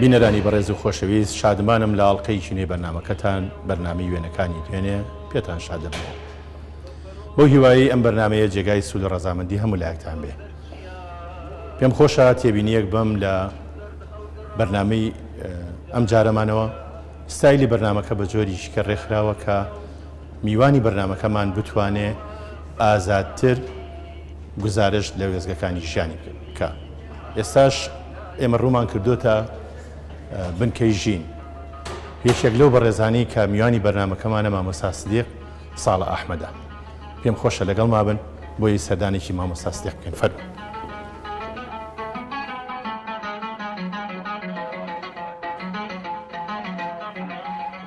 بینەرانی بەڕێز و خۆشەویست شادمانم لە ئاڵقەیەکی نوێی بەرنامەکەتان بەرنامەی وێنەکانی دوێنێ پێتان شاد دەبمەوە بەو هیوایەی ئەم بەرنمەیە جێگای سوود و ڕەزامەندی هەموو لایەکتان بێ پێم خۆشە تێبینیەک بەم لە بەرنمەی ئەم جارەمانەوە ستایلی بەرنمەکە بە جۆریش کە ڕێکخراوە کە میوانی بەرنامەکەمان بتوانێ ئازادتر گوزارشت لە وێستگەکانی ژیانی بکا. ئێستاش ئێمە ڕوومان کردۆتە بنکەی ژین. یەکێک لەو بەڕێزانەی کە میوانی بەرنامەکەمانە مامۆستا سدیق ساڵە ئەحمەدە. پێم خۆشە لەگەڵ مابن بۆی سەردانێکی مامۆستا سدیق بکەین فەرموو.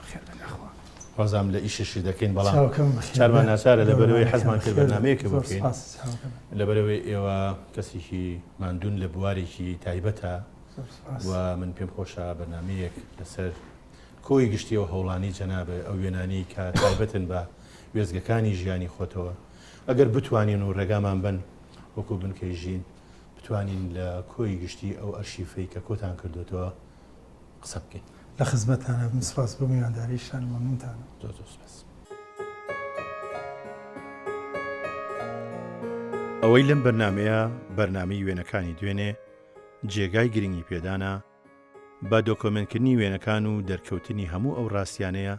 بەخێر بێن یاخوا. وازام لە ئیشەشی دەکەین بەڵام چاوە کەمە بەخێر چارمان بێن. ناچارە لە بەرەوەی گەورەوانەکەم حەزمان کرد بەخێر بێن. بەرنامەیەکە زۆر بکەین. سوپاس چاوە کەمە. لە بەرەوەی ئێوە کەسێکی ماندوون لە بوارێکی تایبەتە زۆر سوپاس. و من پێم خۆشە بەرنامەیەک لەسەر کۆی گشتی و هەوڵانی جەنابە ئەو وێنانەی کە تایبەتن بە وێستگەکانی ژیانی خۆتەوە ئەگەر بتوانین و ڕێگامان بن وەکو بنکەی ژین بتوانین لە کۆی گشتی ئەو ئەرشیفەی کە کۆتان کردوێتەوە قسە بکەین. لە خزمەتتانە بم، سپاس بۆ میوانداریشتان و مەمنونتانم. زۆر زۆر سپاس. ئەوەی لەم بەرنامەیە بەرنامەی وێنەکانی دوێنێ جێگای گرنگی پێدانە بە دۆکۆمێنتکردنی وێنەکان و دەرکەوتنی هەموو ئەو ڕاستیانەیە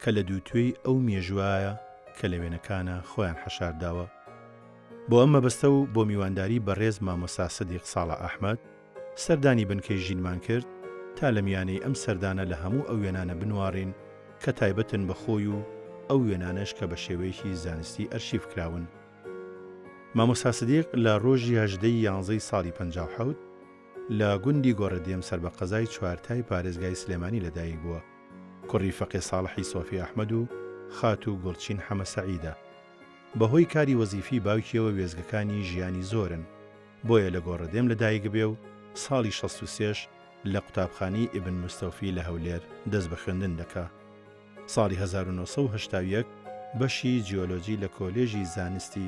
کە لە دووتوێی ئەو مێژوایە کە لە وێنەکانە خۆیان حەشارداوە بۆ ئەم مەبەستە و بۆ میوانداری بەڕێز مامۆسا سدیق ساڵە ئەحمەد سەردانی بنکەی ژینمان کرد تا لە میانەی ئەم سەردانە لە هەموو ئەو وێنانە بنواڕین کە تایبەتن بە خۆی و ئەو وێنانەش کە بە شێوەیەکی زانستی ئەرشیف کراون. مامۆستا سدیق لە ڕۆژی هەژدە ی یانزە ی ساڵی پەنجا و حەوت لە گوندی گۆڕەدێم سەر بە قەزای چوارتای پارێزگای سلێمانی لە دایک بووە، کوڕی فەقێ ساڵحی سۆفی ئەحمەد و خاتوو گوڵچین حەمە سەعیدە. بە هۆی کاری وەزیفی باوکیەوە وێستگەکانی ژیانی زۆرن. بۆیە لە گۆڕەدێم لە دایک بێ و ساڵی شەست و سێش لە قوتابخانەی ئیبن مستەوفی لە هەولێر دەست بە خوێندن دەکا. ساڵی هەزار و نۆ سەد و هەشتا و یەک بەشی جیۆلۆجی لە کۆلێژی زانستی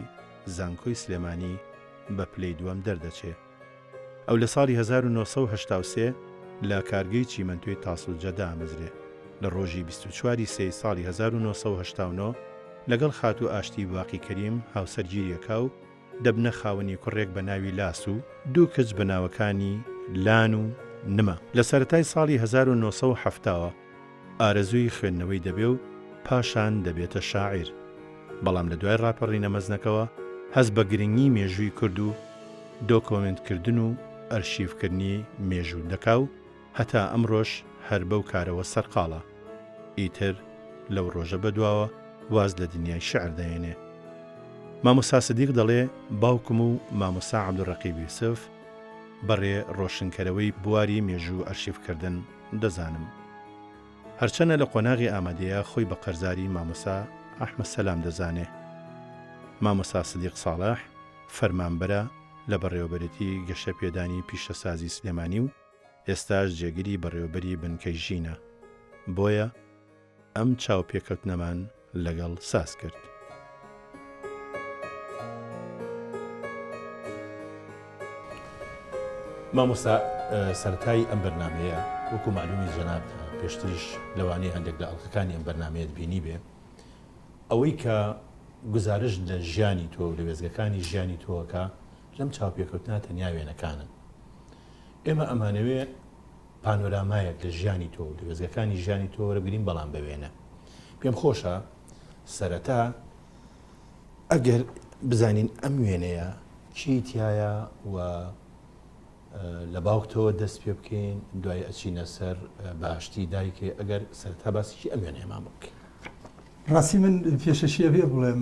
زانکۆی سلێمانی بە پلەی دووەم دەردەچێ. ئەو لە ساڵی هەزار و نۆ سەد و هەشتا و سێ لە کارگەی چیمەنتۆی تاسڵجە دامەزرێ. لە ڕۆژی بیست و چوار ی سێی ساڵی هەزار و نۆ سەد و هەشتا و نۆ لەگەڵ خاتوو ئاشتی باقی کەریم هاوسەرگیری ئەکا و، دەبنە خاوەنی کوڕێک بە ناوی لاس و دوو کچ بە ناوەکانی لان و نما. لە سەرەتای ساڵی هەزار و نۆ سەد و حەفتا وە ئارەزووی خوێندنەوەی دەبێ و پاشان دەبێتە شاعیر، بەڵام لە دوای ڕاپەڕینە مەزنەکەوە هەست بە گرنگی مێژووی کورد و دۆکۆمێنتکردن و ئەرشیفکردنی مێژوو دەکا و، هەتا ئەمڕۆش هەر بەو کارەوە سەرقاڵە. ئیتر لەو ڕۆژە بەدواوە واز لە دنیای شیعر دەهێنێ. مامۆستا سدیق دەڵێ باوکم و مامۆستا عەبدولڕەقیب یوسف بە ڕێ ڕۆشنکەرەوەی بواری مێژوو و ئەرشیفکردن دەزانم. هەرچەنە لە قۆناغی ئامەدەیا خۆی بە قەرزاری مامۆستا ئەحمەد سەلام دەزانێ. مامۆستا سدیق ساڵح فەرمانبەرە لە بەڕێوەبەرێتی گەشەپێدانی پیشەسازی سلێمانی و، ئێستاش جێگری بەڕێوەبەری بنکەی ژینە، بۆیە ئەم چاوپێکەوتنەمان لەگەڵ ساز کرد. مامۆستا سەرەتای ئەم بەرنامەیە وەکو مەعلومی جەنابت پێشتریش لەوانەیە هەندێک لە ئەڵقەکانی ئەم بەرنامەیەت بینیبێ ئەوەی کە گوزارشت لە ژیانی تۆ و لە وێستگەکانی ژیانی تۆ ئەکا لەم چاوپێکەوتنە تەنیا وێنەکانن ئێمە ئەمانەوێ پانۆرامایەک لە ژیانی تۆ و درێزگەکانی ژیانی تۆ وەرەگرین بەڵام بەوێنە پێم خۆشە سەرەتا ئەگەر بزانین ئەم وێنەیە چی تایە و لە باوکتەوە دەست پێ بکەین دوای ئەچینە سەر باشتی دایکێ ئەگەر سەرتا باسیی ئەم وێنەیەمان بکەین ڕاستی من پێشەشیە بێ بڵێم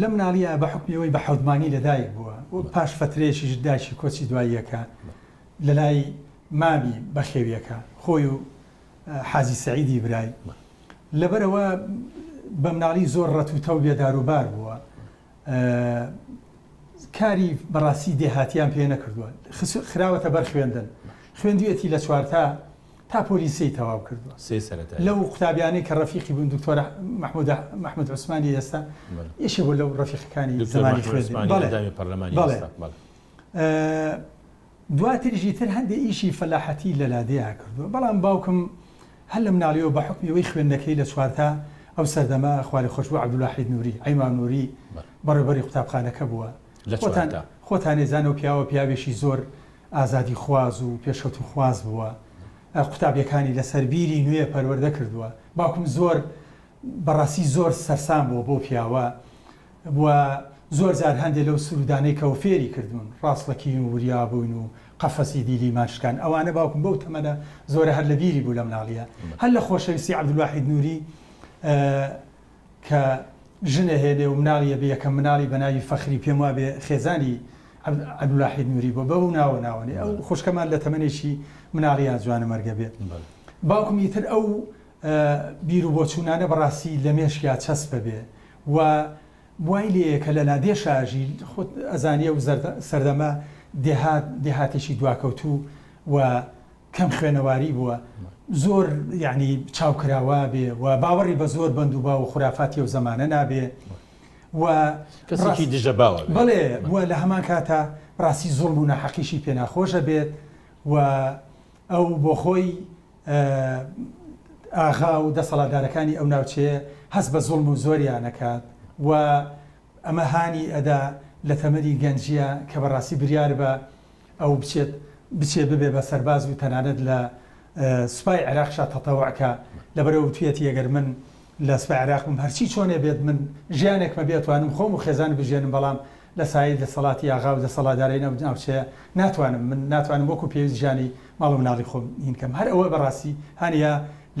لە مناڵییە بە حوکمی ئەوەی بە حەوت مانگی لە دایک بووە و پاش فەترەیەکیش دایکی کۆچی دواییەکە لە لای مامی بەخێویەکە خۆی و حاجی سەعیدی برای لەبەرەوە بە مناڵی زۆر ڕەتوتە و بێداروبار بووە کاری بەڕاستی دێهاتیان پێ نەکردووە خراوەتە بەر خوێندن خوێندوێتی لە چوارتا تا پۆلی سێی تەواو کردووە سێ سەرەتایی. لەو قوتابیانەی کە ڕەفیقی بوون دکتۆرە مەحموودە محمود عوسمانی ئێستا بەڵێ. یەکێک بوو لەو ڕەفیقەکانی دکتۆر زمانی مەحمود خوێندی عوسمانی بەڵێ ئەندامی پەرلەمانی بەڵێ ئێستا بەڵێ. ئە دواتریش ئیتر هەندێ ئیشی فەلاحەتی لە لادێیا کردووە بەڵام باوکم هەر لە مناڵیەوە بە حوکمی ئەوەی خوێندنەکەی لە چوارتا ئەو سەردەمە خوا لێ خۆش بوو عەبدولواحید نووری عەیما نووری بەڵێ. بەڕێوبەری قوتابخانەکە بووە لە خۆتان چوارتا. خۆتان ئێزان ئەو پیاوە پیاوێکی زۆر ئازادیخواز و پێشکەوتنخواز بووە، قوتابیەکانی لەسەر بیری نوێ پەروەردە کردووە، باوکم زۆر بەڕاستی زۆر سەرسام بووە بەو پیاوە و زۆر جار هەندێ لەو سروودانەی کە فێری کردوون، ڕاستەقین و وریا بوون و قەفەسی دیلیمان شکان، ئەوانە باوکم بەو تەمەنە زۆرە هەر لە بیری بوو لە مناڵیە، هەر لە خۆشەویستی عەبدولواحید نووری، کە ژن ئەهێنێ و مناڵی ئەبێ، یەکەم مناڵی بە ناوی فەخری پێم وابێ خێزانی عەبد عەبدولواحید نووری بووە، بەو ناوە ناونی. ئەو بەڵێ. خوشکەمان لە تەمەنێکی مناڵی یا جوانەمەرگە بێ. بەڵێ. باوکم ئیتر ئەو بیر و بۆچوونانە بە ڕاستی لە مێشکیا چەسپ ئەبێ و وای لێیە کە لە لادێ شاژی، خۆت ئەزانی ئەو زەردە سەردەمە دێهات دێهاتێکی دواکەوتوو و، کەم خوێنەواری بووە زۆر یعنی چاو کراوا بێ و باوەڕی بە زۆر بەند و باو و خورافاتی ئەو زەمانە نابێ و کەسێکی دژە باوە بێ. بەڵێ و لە هەمان کاتا ڕاستی زوڵم و ناحەقیشی پێ ناخۆشە بێت و ئەو بۆ خۆی ئاغا و دەسەڵاتدارەکانی ئەو ناوچەیە هەست بە زوڵم و زۆریان ئەکات و ئەمە هانی ئەدا لە تەمەنی گەنجیا کە بەڕاستی بریار بە ئەو بچێت بچێ ببێ بە سەرباز و تەنانەت لە سوپای عێراقشا تەتەوع کا، لەبەرئەوە وتویەتی ئەگەر من لە سوپای عێراق بم هەرچی چۆنێ بێت من ژیانێکمە بێ ئەتوانم خۆم و خێزانم بژێنم بەڵام لە سایەی دەسەڵاتی ئاغا و دەسەڵادارین ئەو ناوچەیە ناتوانم من ناتوانم وەکو پێویست ژیانی ماڵ و مناڵی خۆم ین کەم هەر ئەوە بەڕاستی هانیە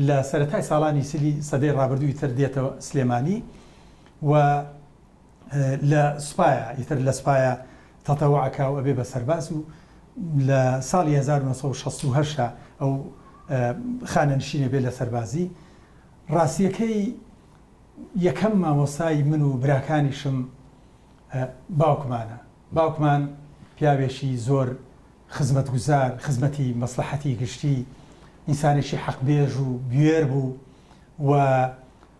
لە سەرەتای ساڵانی چلی سەدەی ڕابردووی تر دێتە سلێمانی و لە سوپایە ئیتر لە سوپایە تەتەوع ئەکا و ئەبێ بە سەرباز و لە ساڵی هەزار و نۆ سەد و شەست و هەشت ئەو خانەنشین ئەبێ لە سەربازی ڕاستیەکەی یەکەم مامۆستای من و براکانیشم باوکمانە باوکمان پیاوێکی زۆر خزمەتگوزار خزمەتی مەسلحەتی گشتی ئینسانێکی حەقبێژ و بوێر بوو و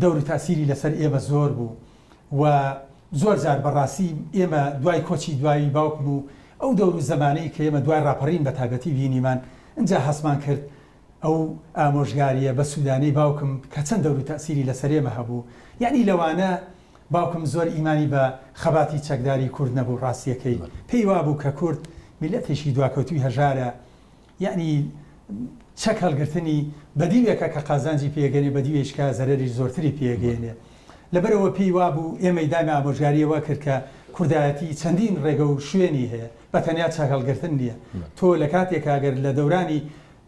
دەور و تاسیری لەسەر ئێمە زۆر بوو و زۆر جار بە ڕاستی ئێمە دوای کۆچی دوایی باوکم و ئەو دەور و زەمانەی کە ئێمە دوای ڕاپەڕین بە تایبەتی بینیمان ئنجا هەستمان کرد ئەو ئامۆژگاریە بە سودانەی باوکم کە چەند دەور و تاسیری لەسەر ئێمە هەبوو یەعنی لەوانە باوکم زۆر ئیمانی بە خەباتی چەکداری کورد نەبوو ڕاستیەکەی پێی وابوو کە کورد میلەتێکی دواکەوتوی هەژارە یەعنی چەک هەڵگرتنی بەدیوێکە کە قازانجی پێگەنێ بەدیوێیشکە زەرەریش زۆرتری پێگەیەنێ لەبەرئەوە پێی وابوو ئێمەی دانا ئامۆژگاری ئەوە کرد کە کوردایەتی چەندین ڕێگە و شوێنی هەیە بەتەنیا چەک هەڵگرتن نییە تۆ لە کاتێکا گەر لە دەورانی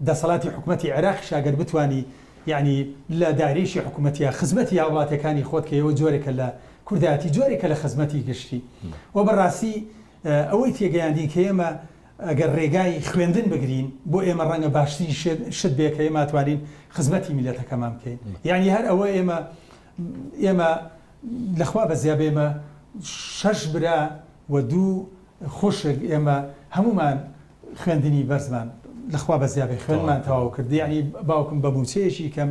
دەسەڵاتی حکومەتی عێراقیشا گەر بتوانی یەعنی لە دایرەیشی حکومەتیە خزمەتی هاوڵاتیەکانی خۆت کە ئەوە جۆرێکە لە کوردایەتی جۆرێکە لە خزمەتی گشتی وە بەڕاستی ئەوەی تێگەیاندین کە ئێمە ئەگەر رێگای خوێندن بگرین بۆ ئێمە رەنگە باشترین شت بێ کە ئێمە توانین خزمەتی میلەتەکەمان بکەین یانی هەر ئەوە ئێمە ئێمە لە خوا بەزیا بێمە شەش برا و دوو خوشک ئێمە هەمومان خوێندنی بەرزمان لەخوا بەزیابێ خوێنمان تەواو کرد یعنی باوکم بە موچەیەکی کەم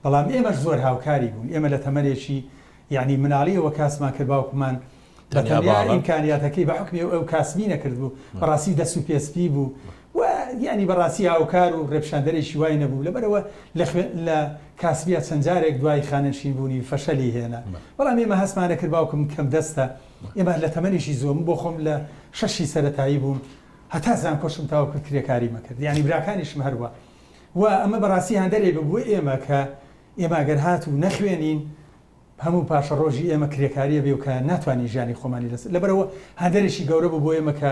بەڵام ئێمەش زۆر هاوکاری بوون ئێمە لە تەمەرێکی یعنی مناڵیەوە کاسمان کرد باوکمان بە تەنیا ئیمکانیاتەکەی بە حوکمی ئەو کاسبی نەکردبوو، بەڕاستی دەست و پێ سپی بوو و یانی بەڕاستی هاوکار و ڕێپیشاندەرێکی وای نەبوو، لەبەرئەوە لە خوێن لە کاسبیا چەند جارێک دوای خانەنشین بوونی فەشەلی هێنا، بەڵام ئێمە هەستمان نەکرد، باوکم کەم دەستە، ئێمە هەر لە تەمەنێکی زووە، من بۆ خۆم لە شەشی سەرەتایی بووم هەتا زانکۆشم تەواو کرد کرێکاریم ئەکرد، یانی براکانیشم هەروا و ئەمە بەڕاستی هاندەرێک بوو بۆ ئێمە کە ئێمە گەر هاتوو نەخوێنین، هەموو پاشەڕۆژی ئێمە کرێکاریە بێ و کە ناتوانین ژیانی خۆمانی لەسەر لەبەرەوە هەندەرێکی گەورە بوو بۆ ئێمە کە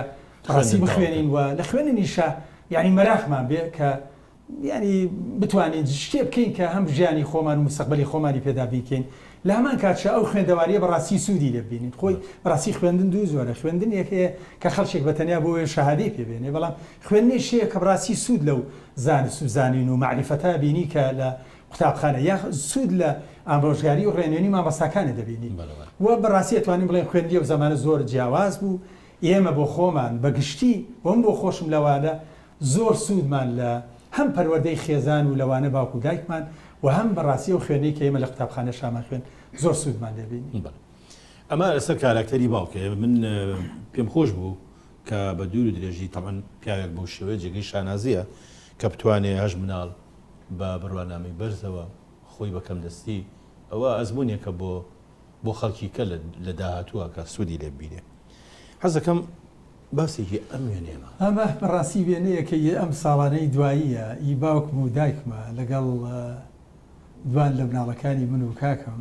ڕاستی بخوێنین و لە خوێنینیشا یانی مەراقمان بێ کە یانی بتوانین شتێ بکەین کە هەم ژیانی خۆمان و مستەقبەلی خۆمانی پێ دابین کەین لە هەمان کاتشا ئەو خوێندەواریە بەڕاستی سوودی لێ ببینین خۆی بەڕاستی خوێندن دوو جۆرە خوێندنێک هەیە کە خەڵکێک بە تەنیا بۆ وێ شەهادەی پێ بێنێ بەڵام خوێندنێک هەیە کە بەڕاستی سوود لەو زانست و زانین و مەعریفەتا بینی کە لە قوتابخانە یا سوود لە ئامرۆژگاری و ڕێنوێنی مامۆستاکانت دەبینی و بەڕاستی ئەتوانین بڵێن خوێندی ئەو زەمانە زۆر جیاواز بوو ئێمە بۆ خۆمان بە گشتی و من بۆ خۆشم لەوانە زۆر سوودمان لە هەم پەروەردەی خێزان و لەوانە باوک و دایکمان و هەم بەڕاستی و خوێنەی کە ئێمە لە قوتابخانە شامان خوێن زۆر سوودمان لێبینی ئەمە لەسەر کاراکتەری باوکێ من پێم خۆش بوو کە بە دوور و درێژی تەمەن پیاوێک بۆ شێوەیە جێگەی شانازیە کە بتوانێ هەش مناڵ بە بڕوانامەی بەرزەوە خۆی بە کەمدەستی، ئەوە ئەزموونێکە بۆ بۆ خەڵکی کە لە داهاتووە کە سوودی لێ ببینێ. حەز دەکەم باسێکی ئەم وێنەیەمە. ئەمە بە ڕاستی وێنەیەکە ی ئەم ساڵانەی دواییە ی باوکم و دایکمە لەگەڵ دوان لە مناڵەکانی من و کاکم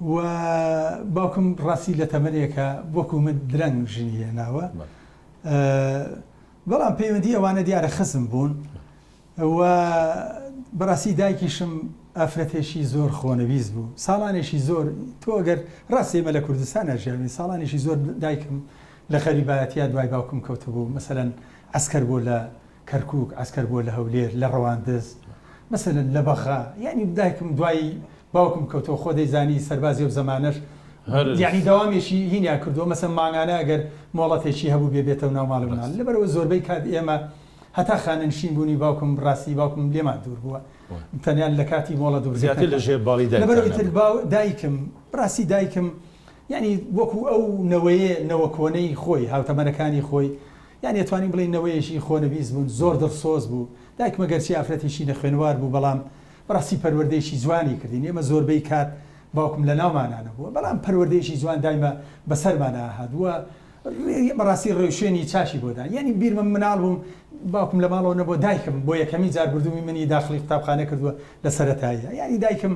و باوکم ڕاستی لە تەمەنێکە وەکو من درەنگ ژنی هێناوە بەڵام پەیوەندی ئەوانە دیارە خزم بوون و بەڕاستی دایکیشم ئافرەتێکی زۆر خۆنەویست بوو ساڵانێکی زۆر تۆ گەر ڕاستێمە لە کوردستان ناژیاوی ساڵانێکی زۆر دایکم لە خەریبایەتە دوای باوکم کەوتبوو مەسەەن ئەسکەر بۆ لە کەرکوک عەسکەر بوە لە هەولێر لە ڕەواندز مەسەلەن لە بەغا یانی دایکم دوای باوکم کەوتەوە خۆ دەیزانی سەربازی ئەو زەمانەش یانی دەوامێکی هینیان کردوە مەسەن مانگانە ئەگەر مۆڵەتێکی هەبوبێ بێتەو ناو ماڵی مناڵ لەبەرئەوە زۆربەی کات ئێمە هەتا خانەنشین بونی باوکم ڕاستی باوکم لێمان دور بوە تەنیا لە کاتی مۆڵەت و زیاتر لە ژێر باڵی دایکتان نەبوە لەبەرئەوە ئیتر باو دایکم ڕاستی دایکم یانی وەکو ئەو نەوەیە نەوە کۆنەی خۆی هاوتەمەنەکانی خۆی یان ئەتوانین بڵێین نەوەیەکی خۆنەویست بوون، زۆر دڵسۆز بوو. دایکمە گەرچی ئافرەتێکی نەخوێنەوار بوو، بەڵام بەڕاستی پەروەردەیەکی جوانی کردین. ئێمە زۆربەی کات باوکم لەناومانا نەبووە، بەڵام پەروەردەیەکی جوان دایمە بەسەرمانا ئەهات و بەڕاستی ڕێوشوێنی چاکی بۆ دان. یانی بیرمە مناڵ بووم باوکم لە ماڵەوە نەبووە، دایکم بۆ یەکەمین جار گوردومی منی داخڵی قوتابخانە کردووە لە سەرەتاییە. یانی دایکم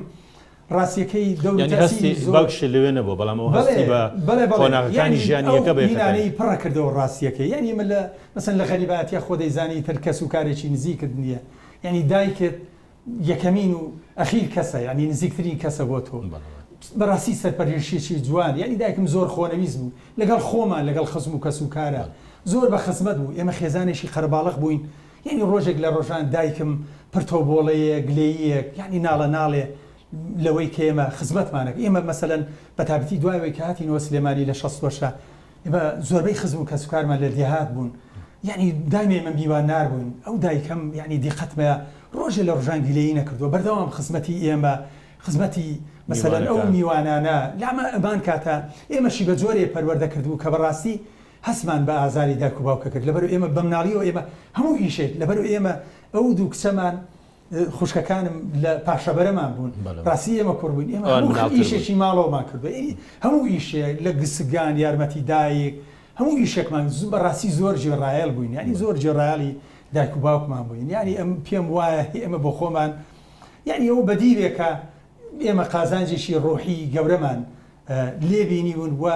ڕاستیەکەی دەور و یانی تاسیری هەستی زۆر باوکیشت لەوێ نەبووە بەڵام ئەو بەڵێ هەستی بە بەڵێ بەڵێ قۆناغەکانی یانی ژیانی ئەو یەکە بە یەکە دایە. بینانەی پڕە کردەوە ڕاستیەکەی یانی ئێمە لە مەسەن لە غەریبایەتیا خۆ دەیزانی ئیتر کەس و کارێکی نزیکت نیە یانی دایکت یەکەمین و ئەخیر کەسە یانی نزیکترین کەسە بۆ تۆ بەڵێ بەڵێ. بەڕاستی سەرپەرێشیەکی جوان یانی دایکم زۆر خۆنەویست بوو لەگەڵ خۆمان لەگەڵ خزم و کەس و کارا بەڵێ. زۆر بە خزمەت بوو ئێمە خێزانێکی قەرەباڵغ بووین یەعنی ڕۆژێک لە ڕۆژان دایکم پرتۆبۆڵەیێ گلێییێک یەعنی ناڵە ناڵێ لەوەی کە ئێمە خزمەتمان ئەکرد ئێمە مەسەلەن بە تابیتی دوای ئەوەی کە هاتینەوە سلێمانی لە شەست وەشە ئێمە زۆربەی خزم و کەسوکارمان لە دێهات بوون یەعنی دایمێ ئێمە میوان نار بووین ئەو دایکەم یەعنی دیقەتمەیە ڕۆژێ لە ڕژان گلێیی نەکردووە بەردەوام خزمەتی ئێمە خزمەتی مەسەلەن ئەو میوانانە لامان ئەمان کاتە ئێمەشی بە جۆرێ پەروەردە کردبوو کە بەڕاستی هەستمان بە ئازاری دایک و باوکە کرد لەبەر ئێمە بەمناڵیەوە ئێمە هەموو ئیشێک لەبەر ئێمە ئەو دوو کچەمان خوشکەکانم لە پاشەبەرەمان بوون ڕاستی ئێمە کوڕ بووین ئێمە هەموو ئیشێکی ماڵەوەمان کردو هەموو ئیشێ لە گسگان یارمەتی دایک هەموو ئیشێکمان زوو بە ڕاستی زۆر جێڕایەل بووین ینی زۆر جێڕایالی دایک و باوکمان بووین ینی ئەم پێم وایە ئێمە بۆ خۆمان یعنی ئەو بەدیرێکە ئێمە قازانجێکی ڕۆحی گەورەمان لێبینی بوون وە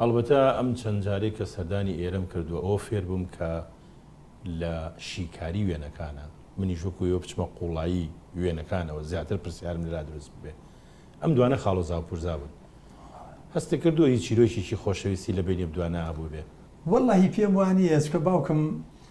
ئەڵبەتە ئەم چەند جارەی کە سەردانی ئێرەم کردووە ئەوە فێر بووم کە لە شیکاری وێنەکانە، منیش وەکو ئێوە بچمە قوڵایی وێنەکانەوە زیاتر پرسیارم لەلا دروست ببێ. ئەم دوانە خاڵۆزاو پورزا بوون. هەستت کردووە هیچ چیرۆکێکی خۆشەویستی لە بەینی ئەم دوانە هەبووبێ؟ وەڵڵەهی پێم وانییە چکە باوکم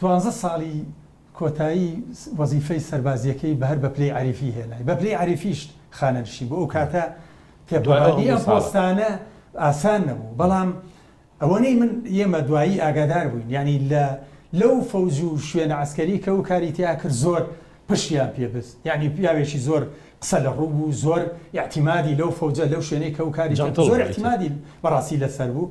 دوانزە ساڵی کۆتایی وەزیفەی سەربازییەکەی بە هەر بە پلەی عەریفی هێنای، بە پلەی عەریفیشت خانەنشین بوو، ئەو کاتە تێپەڕاندنی ئەم پۆستانە ئاسان نەبوو، بەڵام ئەوەنەی من ئێمە دوایی ئاگادار بووین، یانی لە لەو فەوج و شوێنە عەسکەری کە ئەو کاری تیا کرد زۆر پشتیان پێ بست، یانی پیاوێکی زۆر قسە لە ڕوو بوو، زۆر ئیعتیمادی لەو فەوجە لەو شوێنەی کە ئەو کاری تیا کرد زۆر ئیعتیمادی بەڕاستی لەسەر بوو،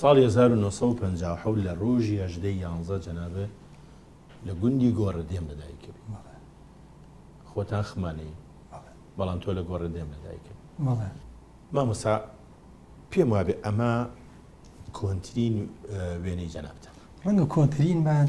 ساڵی هەزار و نۆ سەد و پەنجا و حەوت لە ڕۆژی هەژدە ی یانزە جەنابێ لە گوندی گۆڕەدێم لە دایک بووی بەڵێ خۆتان خمانەیی بەڵێ بەڵام تۆ لە گۆڕەدێم لە دایک بووی بەڵێ مامۆستا پێم وابێ ئەمە کۆنترین وێنەی جەنابتانە ڕەنگە کۆنترینمان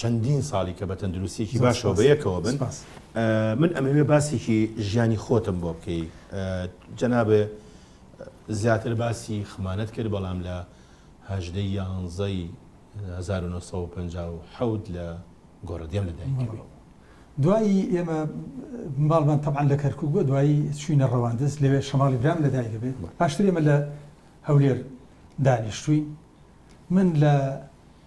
چەندین ساڵی کە بە تەندروستیەکی باشەوە بە یەکەوە بن من ئەمەوێ باسێکی ژیانی خۆتم بۆ بکەی جەنابێ زیاتر باسی خمانەت کرد بەڵام لە هەژدە یانزەی 1950 لە گۆڕدێم لە دایکەوە دوایی ئێمە ماڵمان تەبان لە کەرکک بۆ دوایی چوینە ڕەواندز لەوێ شەماڵی برام لە دایکە بێت پاشتر ئێمە لە هەولێر دانیشتوین من لە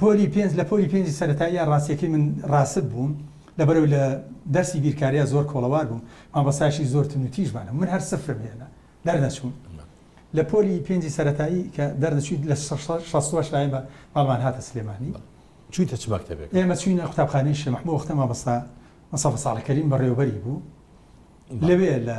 پۆلی پێنج لە پۆلی پێنجی سەرەتاییا ڕاستیەکەی من ڕاسپ بووم لەبەرەوەی لە دەرسی بیرکاریا زۆر کۆڵەوار بووم مامۆستایشی زۆر تون و تیژبانە من هەر سفرم هێنا دەرنەچووم لە پۆلی پێنجی سەرەتایی کە دەرنەچووی لە شەش لای بە ماڵمان هاتە سلێمانی چوویتە چ مەکتەبێک ئێمە چوینە قوتابخانەی شێ محمود وەختە مامۆستا مەسەفە ساڵحکەریم بەڕێوەبەری بوو لەوێ لە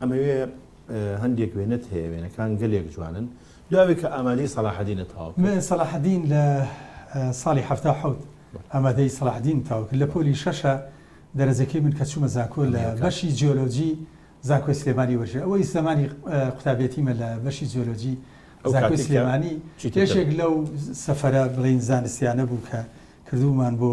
ئەمەوێ هەندێک وێنەت هەیە وێنەکان گەلێک جوانن دواوێ کە ئامادەی سەلاحەدینە تەواو کرد. من سەلاحەدین لە ساڵی حەفتا و حەوت ئامادەی سەلاحەدینم تەواو کرد لە پۆلی شەشە دەرەجەکەی من کە چوومە زانکۆ لە بەشی جیۆلۆجی زانکۆی سلێمانی وەرگرت ئەوەی زەمانی قوتابیەتیمە لە بەشی جیۆلۆجی زانکۆی سلێمانی یەکێک لەو سەفەرە بڵێین زانستیانە بوو کە کردوومان بۆ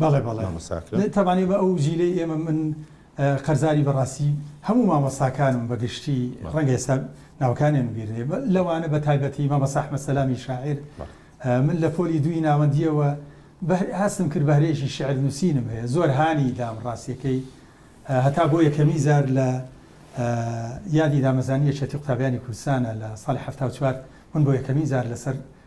بەڵێ بەڵێ مامۆستا ئەکرەم. تەبعەن ئێمە ئەو جیلەی ئێمە من قەرزاری بەڕاستی هەموو مامۆستاکانم بە گشتی ڕەنگە ئێستا ناوەکانیان بیر نێ لەوانە بە تایبەتی مامۆستا ئەحمەد سەلامی شاعیر من لە پۆلی دووی ناوەندییەوە هەستم کرد بە هەرێشی شعر نووسینم هەیە زۆر هانی دام ڕاستیەکەی هەتا بۆ یەکەمی زار لە یادی دامەزانی یەکێتی قوتابیانی کوردستانە لە ساڵی حەفتا و چوار من بۆ یەکەمین زار لەسەر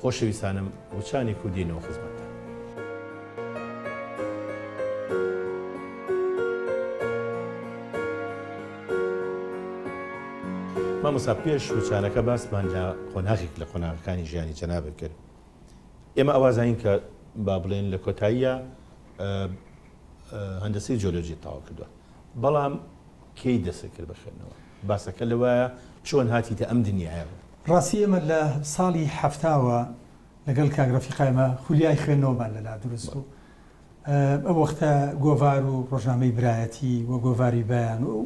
خۆشەویستانم وچانی کوردی نۆ خزمەت. مامۆستا پێش وچانەکە باسمان لە قۆناغێک لە قۆناغەکانی ژیانی جەنابت کرد ئێمە ئەوا زانین کە با بڵێن لە کۆتاییە هەندەسەی جۆلۆجی تەواو کردووە بەڵام کەی دەستت کرد بە خوێندنەوە؟ باسەکە لەوەیە چۆن هاتیتە ئەم دنیایەوە؟ ڕاستی ئێمە لە ساڵی حەفتاوە لەگەڵ کاک ڕەفیق ئایمە خولیای خوێندنەوەمان لەلا دروست بوو. ئەو وەختە گۆڤار و ڕۆژنامەی برایەتی و گۆڤاری بەیان و ئەو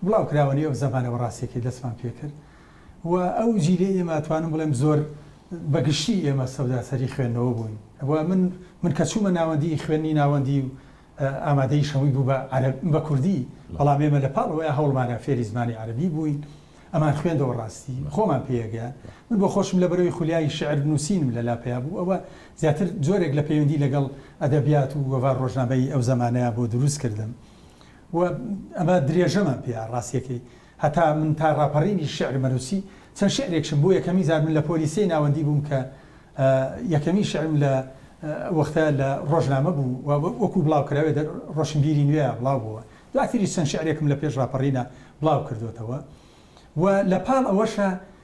بڵاوکراوەنی ئەو زەمانە بە ڕاستێکی دەستمان پێ کرد و ئەو جیلی ئێمە توانم بڵێم زۆر بە گشتی ئێمە سەوداسەری خوێندنەوە بووین و من من کە چوومە ناوەندی خوێنی ناوەندی و ئامادەیش هەمووی بوو بە عەرەب بە کوردی بەڵام ئێمە لە پاڵ ئەوەی هەوڵمانە فێری زمانی عەرەبی بووین ئەمان خوێندەوە ڕاستی خۆمان پێیەگەیان من بۆ خۆشم لە بەرەوەی خولیای شعر نووسینم لە لا پیا بوو ئەوە زیاتر جۆرێک لە پەیوەندی لەگەڵ ئەدەبیات و وەڤار ڕۆژنامەی ئەو زەمانەیە بۆ دروست کردم و ئەمە درێژەمان پیا ڕاستیەکەی هەتا من تا ڕاپەڕینی شیعرم ئەنووسی، چەند شیعرێکشم بۆ یەکەمین جار من لە پۆلی سێی ناوەندی بووم کە یەکەمین شیعرم لە وەختە لە ڕۆژنامە بوو و وەکوو بڵاوکراوێ دە ڕۆشنبیری نوێیا بڵاو بۆوە. دواتریش چەند شیعرێکم لە پێش ڕاپەڕینە بڵاو کردۆتەوە و لە پاڵ ئەوەشە،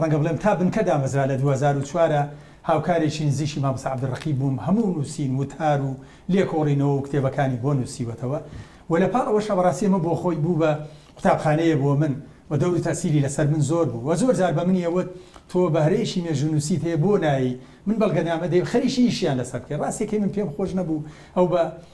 ڕەنگە بڵێم تا بنکە دامەزرا لە دوو هەزار و چوار هاوکارێکی نزیکی مامۆستا عەبدولڕەقیب بووم، هەموو نووسین، وتار و لێکۆڵینەوە و کتێبەکانی بۆ نووسیوەتەوە و لە پاڵ ئەوەشا بەڕاستی ئەمە بۆ خۆی بوو بە قوتابخانەیە بۆ من و دەور و تەئسیری لەسەر من زۆر بوو و زۆر جار بە منی ئەوت تۆ بەهرەیەکی مێژوونووسیت هەیە بۆ نایی من بەڵگەنامە دەی خەریکی ئیشیان لەسەر بکەی ڕاستەکەی من پێم خۆش نەبوو ئەو بە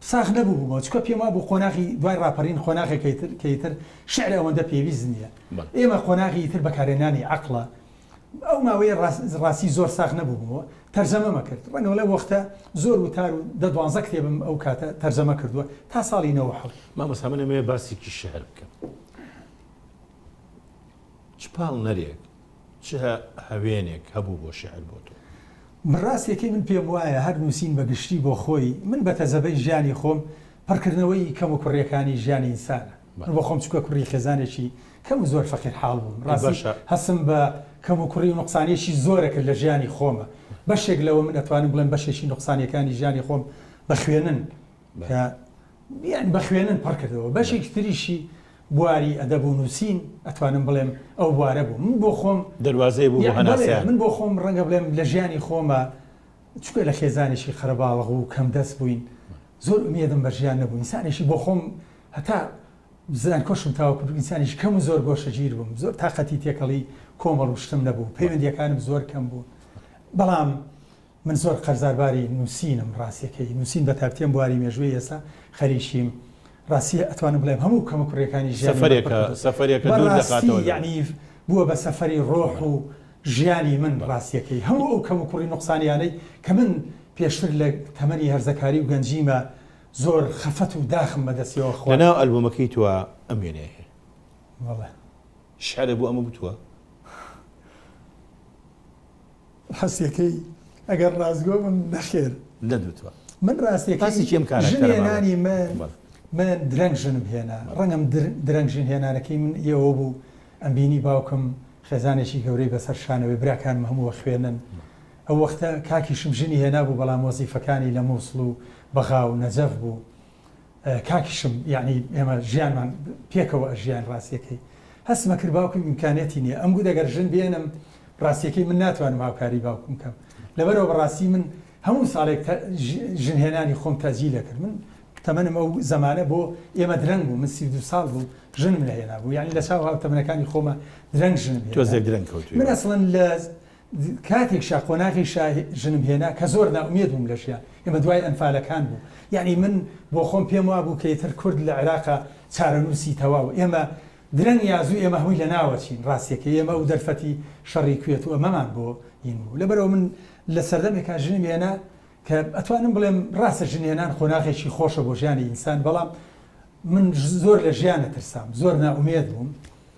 ساخ نەبووبوومەوە، چونکە پێم وابوو قۆناغی دوای ڕاپەڕین قۆناغێکە کە ئیتر شیعر ئەوەندە پێویست نییە. ئێمە قۆناغی ئیتر بەکارهێنانی عەقڵە. ئەو ماوەیە ڕاستی زۆر ساخ نەبووبوومەوە. تەرجەمەم ئەکرد. ڕەنگە لەو وەختە زۆر وتار و دە دوانزە کتێبم ئەو کاتە تەرجەمە کردووە، تا ساڵی نەوەد و حەوت. مامۆستا من ئەمەوێ باسێکی شیعر بکەم. چ پاڵنەرێک. چ هەوێنێک هەبوو بۆ شیعر بۆ تۆ؟ بڕاستیەکەی من پێم وایە هەر نووسین بە گشتی بۆ خۆی، من بە تەجەبەی ژیانی خۆم، پڕکردنەوەی کەم و کوڕیەکانی ژیانی ئینسانە. من بۆ خۆم چوکە کوڕی خێزانێکی کەم و زۆر فەقیر حاڵ بووم. ڕاستی هەستم بە کەم و کوڕی و نوقسانیەکی زۆرە کرد لە ژیانی خۆمە. بەشێک لەوە من ئەتوانم بڵێم بەشێکی نوقسانیەکانی ژیانی خۆم بە خوێنن، کە یانی بە خوێنن پڕ کردەوە، بەشێکی تریشی بواری ئەدەب و نووسین، ئەتوانم بڵێم ئەو بوارە بوو، من بۆ خۆم دەروازەیە بوو بۆ هەناسەیان. من بۆ خۆم ڕەنگە بڵێم لە ژیانی خۆما چونکە لە خێزانێکی قەرەباڵغ و کەمدەست بووین، زۆر ئومێدم بە ژیان نەبوو، ئینسانێکی بۆ خۆم هەتا زانکۆشم تەواو کرد ئینسانێکی کەم و زۆر گۆشەگیر بووم، زۆر تاقەتی تێکەڵی کۆمەڵ و شتم نەبوو، پەیوەندییەکانم زۆر کەم بوون، بەڵام من زۆر قەرزار باری نوسینم ڕاستەکەی نوسین بەتایبەتی ئەم بواری مێژووی ئێستا خەریکیم ڕاستیە ئەتوانم بڵێم هەموو کەمە کوڕیەکانی ژیان سەفەرێکە سەفەرێکە دوور دەخاتەوە یعنی بووە بە سەفەری ڕۆح و ژیانی من ڕاستیەکەی هەموو ئەو کەم و کوڕی نوقسانیانەی کە من پێشتر لە تەمەنی هەرزەکاری و گەنجیمە زۆر خەفەت و داخم بەدەستیەوە خۆ لەناو ئەلبومەکەی تۆ ئەم وێنەیە هەیە بەڵێ شعرێ بۆ ئەمە گوتووە؟ حەسیەکەی ئەگەر ڕاستگۆ بم نەخێر نەدوتوە من ڕاستەکەی ژنێنانی من من درەنگ ژنم هێنا ڕەنگم درەنگ ژن هێنانەکەی من ئێوە بوو ئەم بینی باوکم خێزانێکی گەورەی بەسەر شانەوەی براکانم هەمووە خوێنن ئەو وەختە کاکیشم ژنی هێنا بوو بەڵام وەزیفەکانی لە مووسڵ و بەغا و نەجەف بوو کاکیشم یانی ئێمە ژیانمان پێکەوە ئەژیاین ڕاستیەکەی هەستمە کرد باوکم ئیمکانیەتی نییە ئەم گوت ئەگەر ژن بێنم ڕاستیەکەی من ناتوانم هاوکاری باوکم کەم لەبەرەوە بەڕاستی من هەموو ساڵێک ژنهێنانی خۆم تەجی لەکرد من تەمەنم ئەو زمانە بۆ ئێمە درەنگ بوو من سی دو ساڵ بوو ژنم لەهێنا بوو یعنی لە چاو هاو تەمنەکانی خۆمە درەنگ ژنم تۆزێک درەنگ کەوت من ئەسڵەن لە کاتێک شا قۆناغی شا ژنم هێنا کە زۆر نائومێد بووم لە ژیان، ئێمە دوای ئەنفالەکان بوو، یەعنی من بۆ خۆم پێم وابوو کە ئیتر کورد لە عێراقا چارەنووسی تەواو، ئێمە درەنگ یا زوو ئێمە هەمووی لەناوەچین، ڕاستیەکەی ئێمە ئەو دەرفەتی شەڕی کوێت و ئەمەمان بۆ ین بوو، لەبەرئەوە من لە سەردەمێکا ژنم هێنا کە ئەتوانم بڵێم ڕاستە ژن هێنان قۆناغێکی خۆشە بۆ ژیانی ئینسان، بەڵام من زۆر لە ژیان ئەترسام، زۆر نائومێد بووم،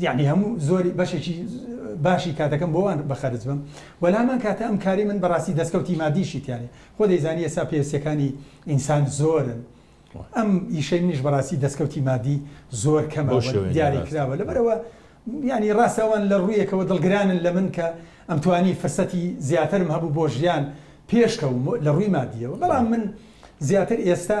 یەعنی هەموو زۆری بەشێکی باشی کاتەکەم بۆ وان بەخەرج بەم وە لامان کاتە ئەم کاری من بەڕاستی دەستکەوتی مادیشی تیایە خۆ دەیزانی ئێستا پێوستەکانی ئینسان زۆرن ئەم ئیشەی منیش بەڕاستی دەستکەوتی مادی زۆر کەمە بەو شێوەیە دیاری ناراست. کراوە لەبەرەوە یعنی ڕاستە ئەوان لە ڕوویەکەوە دڵگرانن لە من کە ئەمتوانی فرسەتی زیاترم هەبوو بۆ ژیان پێش کەوم لە ڕووی مادیەوە بەڵام من زیاتر ئێستا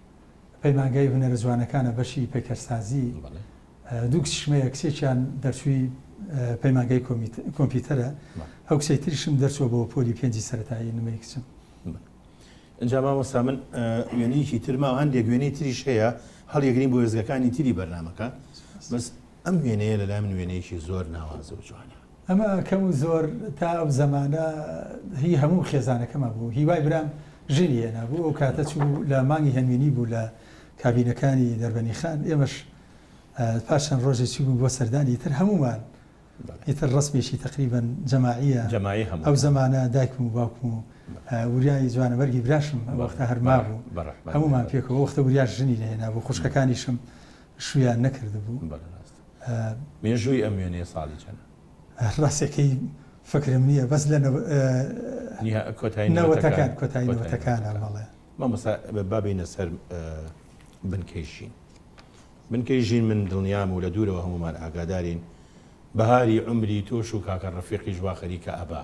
پەیمانگای هونەرە جوانەکانە بەشی پەیکەرسازی بەڵێ دوو کچیشمەیە کچێکیان دەرچووی پەیمانگای کۆمپیوتەرە ئەو کچەی تریشم دەرچووە بۆ پۆلی پێنجی سەرەتایی نمەی کچم ئەنجام مامۆستا من وێنەیەکی ترما هەندێک وێنەی تریش هەیە هەڵیگرین بۆ وێزگەکانی تری بەرنمەکە بەس ئەم وێنەیە لەلای من وێنەیەکی زۆر ناوازە و جوانە ئەمە کەم و زۆر تا ئەو زەمانە هی هەموو خێزانەکەمان بوو. هیوای برام ژنی هێنابوو، ئەو کاتە چوو لە مانگی هەنگوینی بوو لە کابینەکانی دەربەنی خان، ئێمەش پاش چەند ڕۆژێ چووبووین بۆ سەردانی، ئیتر هەموومان ئیتر ڕەسمێکی تەقریبەن جەماعییە، ئەو زەمانە دایکم و باوکم و وریای جوانەمەرگی براشم ئەو وەختە هەر مابوو، هەموومان پێکەوە، ئەو وەختە وریاش ژنی نەهێنابوو، خوشکەکانیشم شوویان نەکردبوو. مێژووی ئەم وێنەیە ساڵی چەنە؟ ڕاستەکەی فکرم نیە بەس لە کۆتایی نەوەتەکان کۆتایی نەوەتەکانە بەڵێ. مامۆستا با بێینە سەر بنکەی ژین. بنکەی ژین من دڵنیام و لە دوورەوە هەموومان ئاگادارین بەهاری عومری تۆش و کاکە ڕەفیقیش وا خەریکە ئەبا.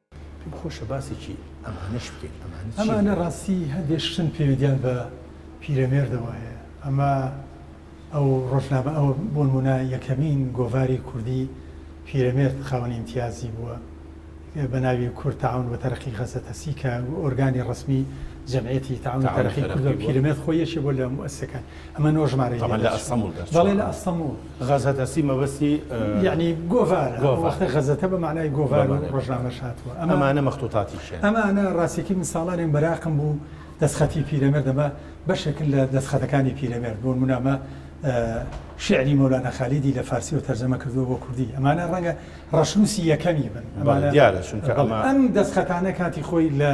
پێم خۆشە باسێکی ئەمانەش بکەیت ئەمانە چیە؟ ئەمانە ڕاستی هەندێ شتن پێویدیان بە پیرەمێردەوە هەیە ئەمە ئەو ڕۆژنامە ئەوە بۆنمونە یەکەمین گۆڤاری کوردی پیرەمێرد خاوەنی ئیمتیازی بووە بە ناوی کورد تاون و تەرەقی غەزەتەسی کە ئۆرگانی ڕەسمی جەمعیەتی تاون تەرەقی کورد و پیرەمێرد خۆی یەکێ بۆ لە موسەکان ئەمە نۆ ژمارەی لێ دەچوو. تەبعەن لە ئەستەموڵ دەرچووە. بەڵێ لە ئەستەموڵ. غەزە دەستی مەبەستی. یەعنی گۆڤارە. گۆڤار. ئەو وەختە غەزەتە بە مەعنای گۆڤار و ڕۆژنامەش هاتووە. ئەمە. ئەمانە مەختووتاتی کێن؟ ئەمانە ڕاستیەکەی من ساڵانێک مەراقم بوو دەستخەتی پیرەمێرد ئەمە بەشێکن لە دەستخەتەکانی پیرەمێرد بۆ نموونە ئەمە شیعری مەولانا خالیدی لە فارسیەوە تەرجەمە کردووە بۆ کوردی ئەمانە ڕەنگە ڕەشنووسی یەکەمی بن. بەڵێ دیارە چونکە ئەمە. ئەم دەستخەتانە کاتی خۆی لە.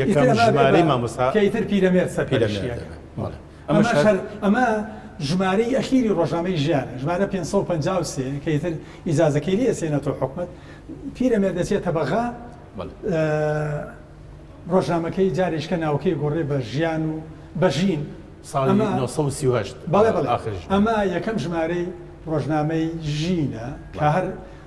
یەکەم ژمارەی مامۆستا کە ئیتر پیرەمێرد سەرپەرشتی ئەکات ئەمە ژمارەی ئەخیری ڕۆژنامەی ژیانە ژمارە 553 کە ئیتر ئیزازەکەی لێ ئەسێنێتەوە حکومەت پیرەمێرد دەچێتە بەغا ڕۆژنامەکەی جاریشکە ناوکەی گۆڕێ بە ژیان و بەژین ساڵ 1930 ئەمە یەکەم ژمارەی ڕۆژنامەی ژینە کە هەر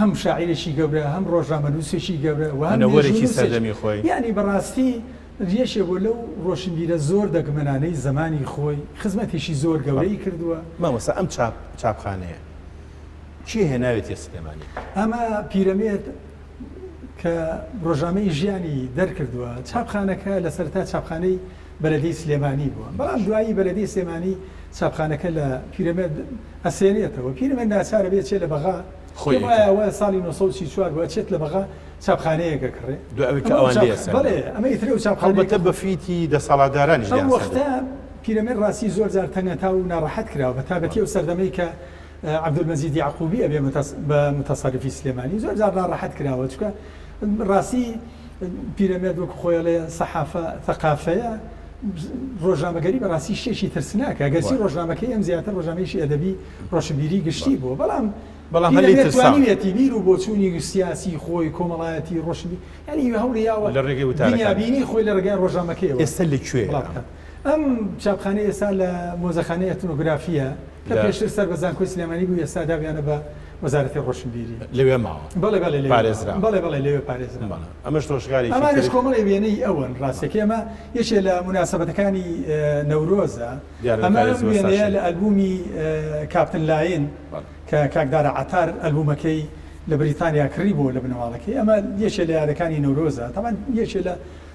هەم شاعیرێکی گەورە، هەم ڕۆژنامەنووسێکی گەورە و هەم مێژوونووسێک. یانی بەڕاستی یەکێک بووە لەو ڕۆشنبیرە زۆر دەگمەنانەی زەمانی خۆی، خزمەتێکی زۆر گەورەی کردووە. مامۆستا ئەم چاپخانەیە کێ هێناوێتیە سلێمانی؟ ئەمە پیرەمێرد کە ڕۆژنامەی ژیانی دەرکردووە. چاپخانەکە لە سەرەتا چاپخانەی. بەلەدیەی سلێمانی بووە بەڵام دوایی بەلەدیەی سلێمانی چاپخانەکە لە پیرەمێرد ئەسێنێتەوە پیرەمێرد ناچارە بێ چێ لە بەغا خۆی پێم وایە ئەوە ساڵی نۆ سەد و سی و چوار بوو ئەچێت لە بەغا چاپخانەیەک ئەکڕێ دوای ئەوەی کە ئەوان لێی ئەسەندن بەڵێ ئەمە ئیتر ئەو چاپخانەیە هەڵبەتە بە فیتی دەسەڵاتدارانیش لێیان ئەو سەندن. وەختە پیرەمێرد ڕاستی زۆر جار تەنگەتاو و ناڕەحەت کراوە بە تابەتی ئەو سەردەمەی کە عبدالمجید یعقوبی ئەبێ بە متەسەرفی سلێمانی زۆر جار ناڕەحەت کراوە چونکە ڕاستی پیرەمێرد وەکو خۆی ئەڵێ سەحافە ثەقافەیە ڕۆژنامەگەری بەڕاستی شتێکی ترسناکە گەرچی ڕۆژنامەکەی ئەم زیاتر ڕۆژنامەیەکی ئەدەبی ڕۆشنبیری گشتی بووە بەڵام بەڵام هەلی پیرەمێرد ترساوە توانیویەتی بیر و بۆچوونی سیاسی خۆی کۆمەڵایەتی ڕۆشنبی یانی هەوڵی یاوە لە ڕێگەی وتارەکانی دنیابینی خۆی لە ڕێگای ڕۆژنامەکەیەوە ئێستا لە کوێیە بڵاو ئەم بکات. ئەم چاپخانەی ئێستا لە مۆزەخانەی ئەتنۆگرافییە کە پێشتر سەر بە زانکۆی سلێمانی بوو، ئێستا دابیانە بە وەزارەتی ڕۆشنبیری. لەوێ ماوە؟ بەڵێ بەڵێ لەوێ پارێزراوە. بەڵێ بەڵێ لەوێ پارێزراوە. ئەمەش ڕۆژگارێکی تر. ئەمانەش کۆمەڵێ وێنەی ئەوەن ڕاستەکەی ئەمە یەکێ لە موناسەبەتەکانی نەورۆزە. ئەمە ئەم وێنەیە لە ئەلبوومی کاپتن لاین کە کاک دارا عەتار ئەلبوومەکەی لە بریتانیا کڕیبۆوە لە بنەماڵەکەی. ئەمە یەکێ لە یادەکانی نەورۆزە. تەبعەن یەکێ لە.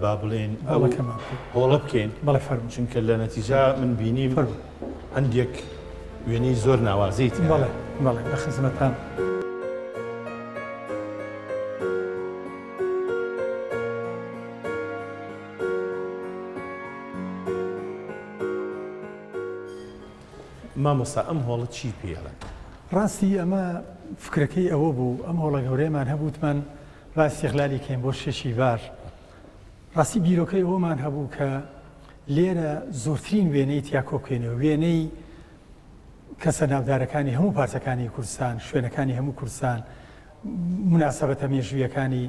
با بڵێین ئەو هۆڵە بکەین چونکە لە نەتیجا من بینیم هەندێک وێنەی زۆر ناوازەیت بەڵێ بەڵێ لە خزمەتان. مامۆستا ئەم هۆڵە چی پێڵێن؟ ڕاستی ئەمە فکرەکەی ئەوە بوو ئەم هۆڵە گەورەیەمان هەبووتمان با ئیستیغلالی کەین بۆ شەشی بار. ڕاستی بیرۆکەی ئەوەمان هەبوو کە لێرە زۆرترین وێنەی تیا کۆبکەینەوە، وێنەی کەسە ناودارەکانی هەموو پارچەکانی کوردستان، شوێنەکانی هەموو کوردستان، موناسەبەتە مێژوویەکانی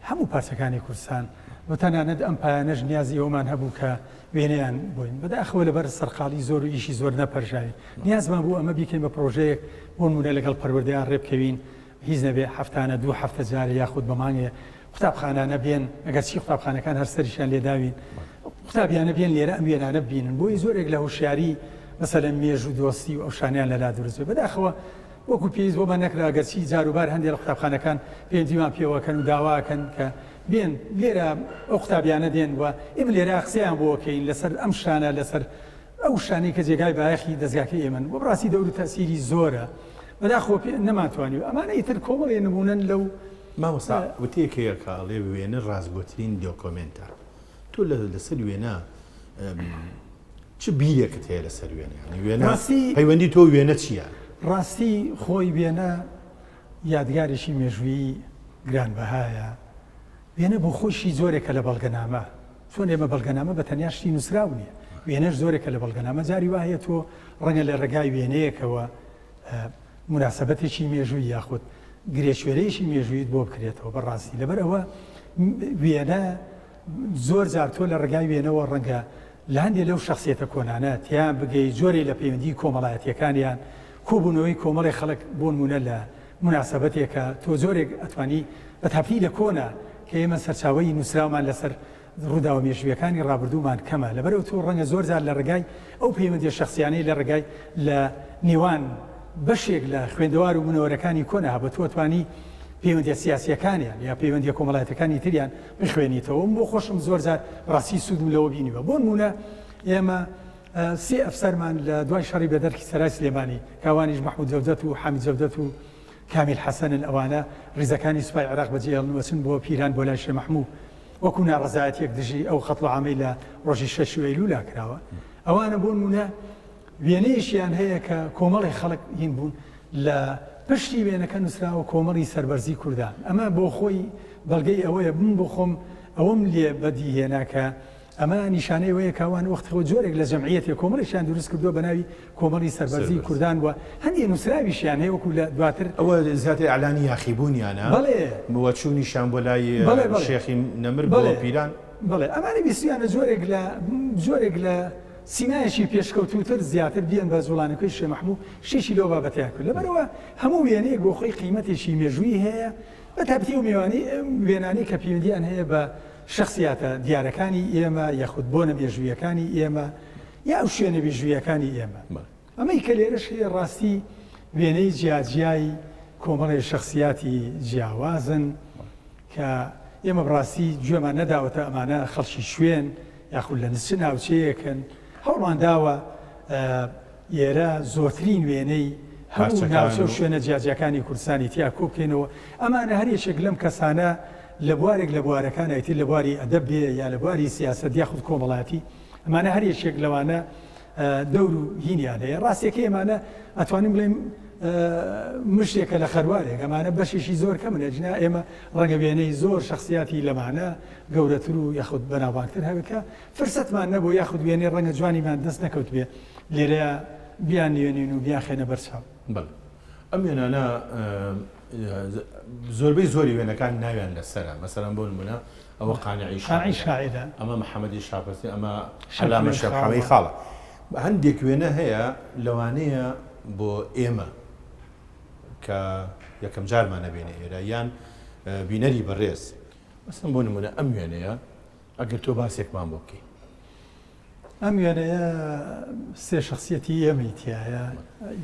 هەموو پارچەکانی کوردستان و تەنانەت ئەم پایانەش نیازی ئەوەمان هەبوو کە وێنەیان بۆین بەداخەوە لەبەر سەرقاڵی زۆر و ئیشی زۆر نەپەرژاوین. نیازمان بوو ئەمە بیکەین بە پڕۆژەیەک بۆ نموونە لەگەڵ پەروەردەیان ڕێبکەوین، هیچ نەبێ هەفتانە دوو هەفتە جارێ یاخود بە مانگێ قوتابخانانە بێن، ئەگەرچی قوتابخانەکان هەر سەریشیان لێ داوین، قوتابیانە بێن لێرە ئەم وێنانە ببینن بۆی زۆرێک لە هوشیاری مەسەلەن مێژوو دۆستی و ئەو شانەیان لە لا دروست بێ بەداخەوە وەکو پێویست بۆمان نەکرا ئەگەرچی جاروبار هەندێ لە قوتابخانەکان پێوەندیمان پێوە ئەکەن و داوا ئەکەن کە بێن لێرە ئەو قوتابیانە دێن و ئێمە لێرە قسەیان بۆ ئەکەین لەسەر ئەم شانە لەسەر ئەو وشانەی کە جێگای بایەخی دەزگاکەی ئێمەن و بڕاستی دەور و تەئسیری زۆرە بەداخەوە پێ نەمانتوانی و ئەمانە ئیتر کۆمەڵێ نموونەن لەو. مامۆستا وتەیەک هەیە کە ئەڵێ وێنە ڕاستگۆترین دۆکۆمێنتە تۆ لە لەسەر وێنە چ بیرێکت هەیە لەسەر وێنە یانی وێنە ڕاستی پەیوەندی تۆ وێنە چییە؟ ڕاستی خۆی وێنە یادگارێکی مێژوویی گرانبەهایە وێنە بۆ خۆیشی جۆرێکە لە بەڵگەنامە، چۆن ئێمە بەڵگەنامە بە تەنیا شتی نووسراو نییە، وێنەش جۆرێکە لە بەڵگەنامە، جاری وا هەیە تۆ ڕەنگە لە ڕێگای وێنەیەکەوە موناسەبەتێکی مێژووی یاخود گرێشوێرەیەکی مێژوویت بۆ بکرێتەوە بە ڕاستی، لەبەر ئەوە وێنە زۆر جار تۆ لە ڕێگای وێنەوە ڕەنگە لە هەندێک لەو شخصیەتە کۆنانە تێیان بگەی، جۆرێک لە پەیوەندیی کۆمەڵایەتییەکانیان، کۆبوونەوەی کۆمەڵێک خەڵک بۆ نموونە لە موناسەبەتێکە تۆ جۆرێک ئەتوانی بە تاپنی لە کۆنە کە ئێمە سەرچاوەی نوسراومان لەسەر ڕوداوە مێژویەکانی ڕابردومان کەمە لەبەر ئەوتۆ ڕەنگە زۆر جار لە ڕێگای ئەو پەیوەندیە شەخسیانەی لە ڕێگای لە نێوان بەشێک لە خوێندەوار و منەوەرەکانی کۆنە هەبوە تۆ ئەتوانی پەیوەندیە سیاسیەکانیان یا پەیوەندیە کۆمەڵایەتەکانی تریان بخوێنیتەوە من بۆ خۆشم زۆر جار بەڕاستی سودم لەوە بینیوە بۆنمونە ئێمە سێ ئەفسەرمان لە دوای شەڕی بەدەرکی سەرای سلێمانی کە ئەوانیش مەحمود جەودەت و حامید جەودەت و کامیل حەسەنن ئەوانە ڕیزەکانی سوپای عێراق بە جێهێڵن و ئەچن بۆ پیران بۆ لای شێ مەحموو وەکوو ناڕەزایەتیەک دژی ئەو قەتڵوعامەی لە ڕۆژی شەش ی ئەیلولا کراوە ئەوانە بۆنموونە وێنەیەکیان هەیە کە کۆمەڵێ خەڵک هین بوون لە پشتی وێنەکە نووسراوە کۆمەڵی سەربەرزی کوردان ئەمە بۆخۆی بەڵگەی ئەوەیە من بۆخۆم ئەوەم لێ بەدیهێنا کە ئەمە نیشانەی ئەوەیە کە ئەوان وەختی خۆ جۆرێک لە جەمعیەتێ کۆمەڵێکیان دروست کردووە بە ناوی کۆمەڵی سەربەرزی کوردان و هەندێ نووسراویشیان هەیە وەکوو لە دواتر ئەوە زیاتر ئیعلانی یاخیبوونیانە بەڵێ و چوونیشیان بۆ لای بەڵێ بەڵێ شێخی نەمر بەڵێ بۆ پیران بەڵێ ئەمانە ویستوویانە جۆرێک لە جۆرێک لە سیمایەکی پێشکەوتووتر زیاتر بیەن بە جووڵانەکەی شێ مەحموو شتێکی لەو بابەتەیان کرد لەبەرئەوە هەموو وێنەیەک بۆ خۆی قیمەتێکی مێژوویی هەیە بە تایبەتی ئەو مێوانەی وێنانەی کە پەیوەندییان هەیە بە شەخسیاتە دیارەکانی ئێمە یاخود بۆنە مێژوویەکانی ئێمە یا ئەو شوێنە مێژوویەکانی ئێمە. ئەمەی کە لێرەش هەیە ڕاستی وێنەی جیاجیای کۆمەڵێ شەخسیاتی جیاوازن کە ئێمە بڕاستی گوێمان نەداوەتە ئەمانە خەڵکی شوێن یاخود لە نچ ناوچەیەکن، هەوڵمان داوە لێرە زۆرترین وێنەی هەموو ناوچە و شوێنە جیاجیاکانی کوردستانی تیا کۆ بکەینەوە، ئەمانە هەر یەکێک لەم کەسانە لە بوارێک لە بوارەکان ئەیتر لە بواری ئەدەب بێ یا لە بواری سیاسەت یاخود کۆمەڵایەتی ئەمانە هەر یەکێک لەوانە دەور و هینیان هەیە، ڕاستیەکەی ئەمانە ئەتوانین بڵێین مشتێکە لە خەروارێک ئەمانە بەشێکی زۆر کەمن ئەجنا ئێمە ڕەنگە وێنەی زۆر شخصیاتی لەمانە گەورەتر و یاخود بەناوبانگتر هەبێت کە فرسەتمان نەبوو یاخود وێنەی ڕەنگە جوانیمان دەست نەکەوتبێ لێرەیا بیاننوێنین و بیانخەینە بەر چاو. بەڵێ ئەم وێنانە زۆربەی زۆری وێنەکان ناویان لەسەرە مەسەلەن بۆ نموونە ئەوە قانعی قانعی شاعیرە شاعیرە. ئەمە محەمەدی شاپەرسی ئەمە عەلامە شەمخەوەی خاڵە. شەمخەوەی خاڵە هەندێک وێنە هەیە لەوانەیە بۆ ئێمە کە یەکەم جارمانە بێینە ئێرە یان بینەری بەڕێز مەسەلەن بۆ نموونە ئەم وێنەیە ئەگەر تۆ باسێکمان بۆ بکەی. ئەم وێنەیە سێ شەخسیەتی ئێمەی تیایە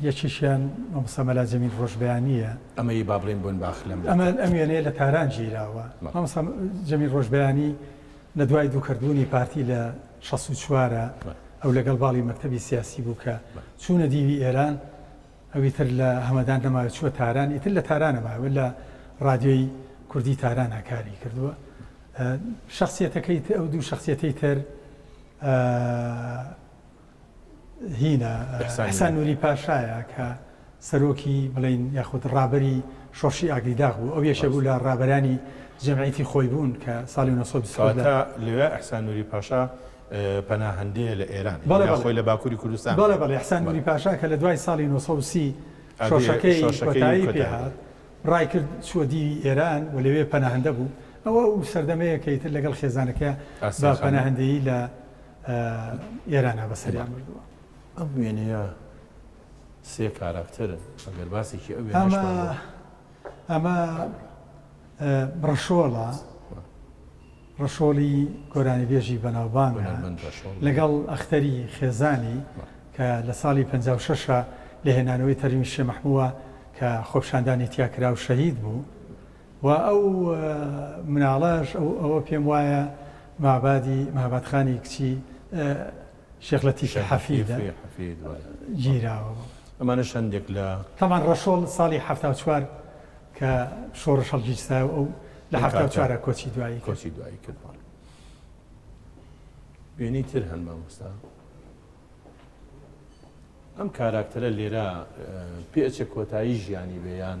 یەکێکیان مامۆستا مەلا جەمیل ڕۆژبەیانییە. ئەمەی با بڵێین بۆنباخ لەم. ئەمە ئەم وێنەیە لە تاران گیراوە. مامۆستا جەمیل ڕۆژبەیانی لە دوای دووکەربوونی پارتی لە شەست و چوار ئەو لەگەڵ باڵی مەکتەبی سیاسی بوو کە چوونە دیوی ئێران ئەو ئیتر لە هەمەدان نەماوە چووە تاران ئیتر لە تارانە ماوە لە ڕادیۆی کوردی تارانا کاری کردووە شخصیەتەکەی تر ئەو دوو شخصیەتەی تر هینە ئەحسان نوری پاشایە کە سەرۆکی بڵین یاخود ڕابەری شۆڕشی ئاگریداغ بوو ئەو یەشە بوو لە ڕابەرانی جەمعیتی خۆی بوون کە ساڵی 1920 لەوێ ئەحسان نوری پاشا پەناهەندەیە لە ئێران بەڵێ بەڵێ یا خۆی لە باکوری کوردستان بەڵێ بەڵێ احسان نوری پاشا کە لە دوای ساڵی نۆ سەد و سی شۆرشەکەی کۆتایی پێ هات ڕای کرد چووە دیوی ئێران و لەوێ پەناهەندە بوو ئەوە ئەو سەردەمەیە کە ئیتر لەگەڵ خێزانەکەیا بە پەناهەندەیی لە ئێرانا بەسەریان بردووە ئەم وێنەیە سێ کاراکتەرن ئەگەر باسێکی ئەو ئەمە ئەمە ڕەشۆڵە ڕەشۆڵی گۆرانیبێژی بەناوبانگە لەگەڵ ئەختەری خێزانی کە لە ساڵی پەنجا و شەش لە هێنانەوەی تەرمی شێ مەحمووە کە خۆپشاندانی تیا کرا و شەهید بوو و ئەو مناڵەش ئەوە پێم وایە مابادی مابادخانی کچی شێخ لەتیفی حەفید گیراوە بوو. ئەمانەش هەندێک لە. تەبعەن ڕەشۆڵ ساڵی حەفتا و چوار کە شۆڕش هەڵگیرسا و ئەو لە حەفتا و چوارە کۆچی دوایی کۆچی دوایی کردوان. وێنەی تر هەن مامۆستا. ئەم کاراکتەرە لێرە پێچە کۆتایی ژیانی بێیان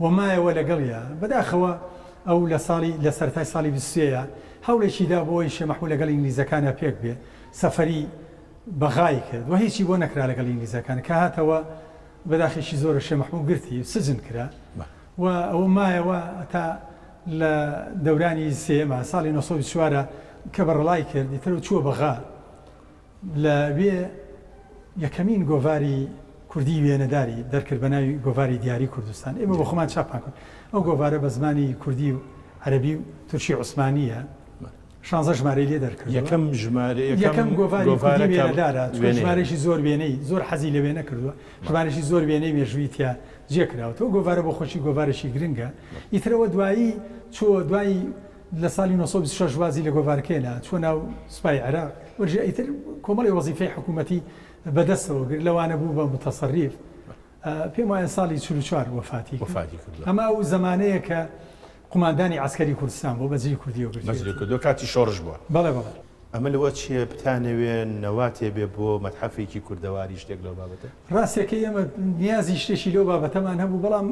و مایەوە لەگەڵیا، بەداخەوە ئەو لە ساڵی لە سەرەتای ساڵی بیست و سێ یا هەوڵێکی دا بۆ ئەوەی شێ مەحموود لەگەڵ ئینگلیزەکانا پێک بێ سەفەری بەغای کرد و هیچی بۆ نەکرا لەگەڵ ئینگلیزەکان کە هاتەوە بەداخێکی زۆرە شێ مەحموود گرتی سجن کرا و ئەوە مایەوە تا لە دەورانی سێیەما ساڵی نۆ سەد و بیست و چوار کە بەڕەڵای کرد ئیتر و چووە بەغا لە وێ یەکەمین گۆڤاری کوردیی وێنەداری دەرکرد بە ناوی گۆڤاری دیاری کوردستان. ئێمە بۆ خۆمان چاپمان کرد. ئەو گۆڤارە بە زمانی کوردی و عەرەبی و تورکی عوسمانییە. شانزە ژمارەی لێ دەرکردووە. یەکەم ژمارە، یەکەم گۆڤاری کوردیی وێنەدارە، چونکە ژمارەیەکی زۆر وێنەی، زۆر حەزی لە وێنە کردووە، ژمارەیەکی زۆر وێنەی مێژوویی تیا جێ کراوەتەوە. ئەو گۆڤارە بۆ خۆشی گۆڤارێکی گرنگە. ئیتر ئەوە دوایی چووە دوای. لە سالی نۆ سەد و بیست و شەش وازی لە گۆڤار کێنا، چووە ناو سوپای عێراق، وەرژێ ئیتر کۆمەڵێ وەزیفەی حکوومەتی بە دەستەوە گرت، لەوانە بوو بە موتەسەریف، پێم وایە سالی چل و چوار وەفاتی کرد. وەفاتی کردووە. ئەمە ئەو زەمانەیە کە قوماندانی عەسکەری کوردستان بووە، بەجلی کوردییەوە گرتوویەتی. بەجلی کوردییەوە، کاتی شۆڕش بووە. بەڵێ بەڵێ. ئەمە لەوە چییە بتانەوێ نەواتێ بێ بۆ مەتحەفێکی کوردەواری شتێک لەو بابەتە؟ ڕاستەکەی ئێمە نیازی شتێکی لەو بابەتەمان هەبوو، بەڵام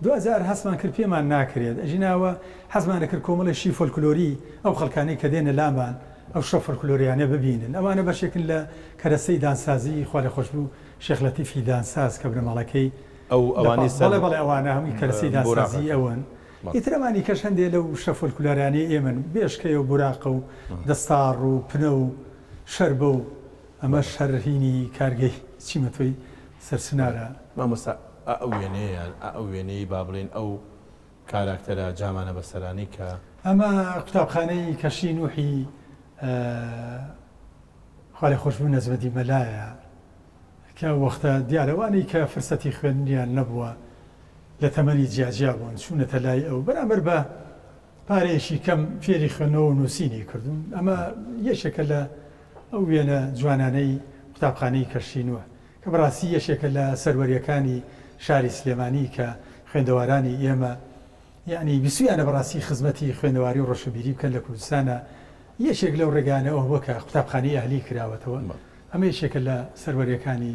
دواجار هەستمان کرد پێمان ناکرێت، ئەژی ناوە حەزمان ئەکرد کۆمەڵێ شی فۆلکلۆری ئەو خەڵکانەی کە دێنە لامان ئەو شتە فۆلکلۆریانە ببینن، ئەوانە بەشێکن لە کەرەستەی دانسازیی خوالێخۆشبوو شێخ لەتیفی دانساز کە بنەماڵەکەی ئەو ئەوانەی سەر بەڵێ بەڵێ ئەوانە هەمووی کەرەستەی بوراقەکەن دانسازیی ئەون، بەڵێ. ئیتر ئەمانی کەش هەندێ لەو شتە فۆلکلۆرانەی ئێمەن، بێشکەیە و بوراقە و دەستاڕ و پنە و شەربە و. ئەمە شەر هینی کارگەی چیمەتۆی سەرچنارە. مامۆستا ئائە وێنەیە یان ئائە وێنەی با بڵێین ئەو کاراکتەرە جامانە بەسەرانەی کە. ئەمە قوتابخانەی کەشی نوحی خوالێخۆشبوو نەجمەدی مەلایە کە وەختە دیارە وانەی کە فرسەتی خوێندنیان نەبووە لە تەمەنی جیاجیا بوون چوونەتە لای ئەو بەرامبەر بە پارەیەکی کەم فێری خوێندنەوە و نووسینی کردووم، ئەمە یەکێکە لە ئەو وێنە جوانانەی قوتابخانەی کەشتی نوح، کە بەڕاستی یەکێکە لە سەروەریەکانی شاری سلێمانی کە خوێندەوارانی ئێمە یەعنی بیستویانە بەڕاستی خزمەتی خوێندەواری و ڕۆشنبیری بکەن لە کوردستانا، یەکێک لەو ڕێگانە ئەوەبووە کە قوتابخانەی ئەهلی کراوەتەوە، ئەمە یەکێکە لە سەروەریەکانی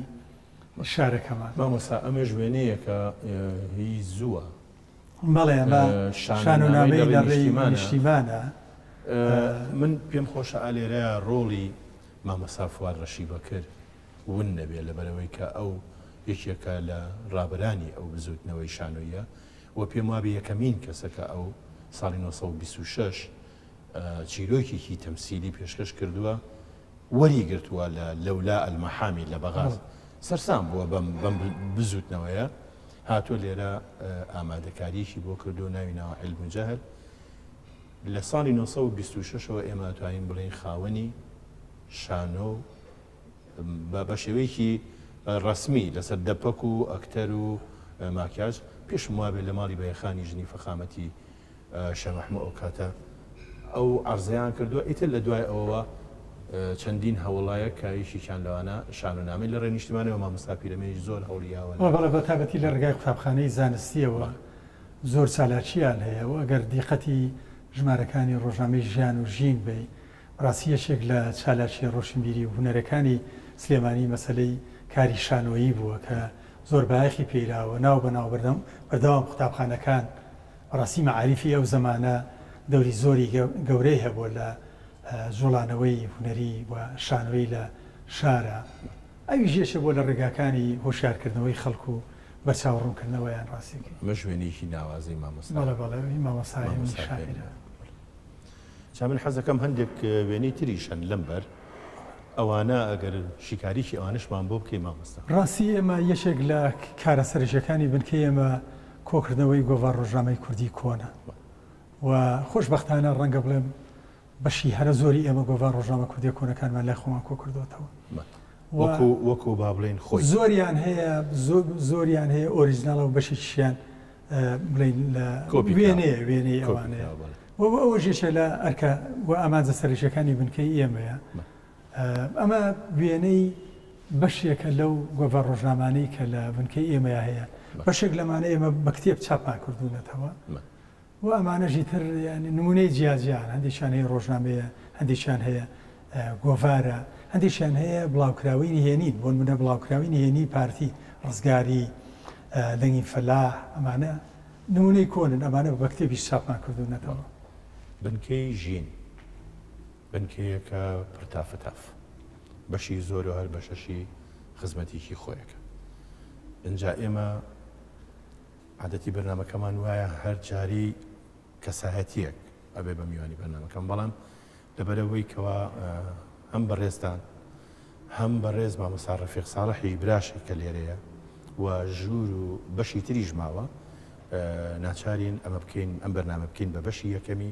شارەکەمان. مامۆستا ئەمەش وێنەیەکە هی زووە. بەڵێ بە شانۆنامەی لە ڕێی نیشتیمانە. من پێم خۆشە ئالێرە ڕۆڵی مامۆسا فواد ڕەشی بەکر ون نەبێ لەبەرەوەی کە ئەو یەکێکە لە ڕابەرانی ئەو بزوتنەوەی شانۆییە و پێم وابێ یەکەمین کەسە کە ئەو ساڵی نۆ سەد و بیست و شەش چیرۆکێکی تەمسیلی پێشکەش کردووە وەری گرتووە لە لەولا ئەلمەحامی لە بەغاز سەرسام بووە بەم بەم بزوتنەوەیە. هاتووە لێرە ئامادەکاریەکی بۆ کردو ناوی ناوە عیلم و جەهل لە ساڵی 1926 ەوە ئێمە توانین بڵین خاوەنی شانۆ بە شێوەیەکی ڕسمی لەسەر دەپەک و ئەکتەر و ماکیاج پێشم وابێت لە ماڵی بەیەخانی ژنی فەخامەتی شێخ مەحموو ئەوکاتە ئەو عەرزەیان کردووە، ئیتر لە دوای ئەوەوە چەندین هەوڵایەک کە یەکێکیان لەوانە شانۆنامەی لە ڕێی نیشتیمانەوە، مامۆستا پیرەمێنیش زۆر هەوڵی یاوە لە. بەڵێ، بەتایبەتی لە ڕێگای قوتابخانەی زانستییەوە بەڵێ. زۆر چالاکییان هەیە و ئەگەر دیقەتی ژمارەکانی ڕۆژنامەی ژیان و ژین بەی، بەڕاستی یەکێک لە چالاکییە ڕۆشنبیری و هونەرەکانی سلێمانی مەسەلەی کاری شانۆیی بووە کە زۆر بایەخی پێیراوە، ناو بە ناو بەردەوام قوتابخانەکان، بەڕاستی مەعاریفی ئەو زەمانە دەوری زۆری گەورەی هەبووە لە جوڵانەوەی هونەری و شانۆیی لە شارا، ئەویش یەکێک بووە لە ڕێگاکانی هۆشیارکردنەوەی خەڵک و بەرچاو ڕوونکردنەوەیان. ڕاستیەکەی. مەش وێنەیەکی ناوازەی مامۆستا. بەڵێ بەڵێ وێنەی مامۆستا هێمنی شاعیرە. جا من حەزەکەم هەندێک وێنەی تریش هەن لەم بەر ئەوانە ئەگەر شیکاریی ئەوانەشمان بۆ بکەی مامۆستا. ڕاستی ئێمە یەکێک لە کارە سەرەکیەکانی بنکەی ئێمە، کۆکردنەوەی گۆڤار ڕۆژنامەی کوردی کۆنە و خۆشبەختانە ڕەنگە بڵێم بەشی هەرە زۆری ئێمە گۆڤار ڕۆژنامە کوردیە کۆنەکانمان لای خۆمان کۆکردوەتەوە وەکو وەکو با بڵێن خۆی زۆریان هەیە زۆریان هەیە ئۆریژناڵە و بەشی شیان بڵین لە وێنەیە وێنەی ئەوانەیە وە ئەوە ژێشە لە ئەرکە و ئامانجە سەرشەکانی بنکەی ئێمەیە ئەمە وێنەی بەشێکە لەو گۆڤار ڕۆژنامانەی کە لە بنکەی ئێمەیا هەیە. بەشێک لەمانە ئێمە بە کتێب چاپمان کردوونەتەوە و ئەمانەشی تر نمونەی جیاجیان هەندێکیان هەیە ڕۆژنامەیە، هەندێکیان هەیە گۆڤارە، هەندێکیان هەیە بڵاوکراوەی نهێنین، بۆ نمونە بڵاوکراوەی نهێنی پارتی، ڕزگاری، دەنگی فەلاح، ئەمانە نمونەی کۆنن، ئەمانە بە کتێبیش چاپمان کردوونەتەوە. بنکەی ژین. بنکەیەکە پڕ تافەتاف بەشی زۆرو هەر بەشەشی خزمەتیکی خۆیەکە ئنجا ئێمە عادەتی بەرنامەکەمان وایە هەر جاری کەسایەتیەک ئەبێ بە میوانی بەرنامەکەم بەڵام لەبەرەوەی کەوا هەم بەڕێزتان هەم بەڕێز مامەسا ڕەفیق ساڵحی براشی کە لێرەیە و ژوور و بەشی تریش ماوە ناچارین ئەمە بکەین ئەم بەرنامە بکەین بە بەشی یەکەمی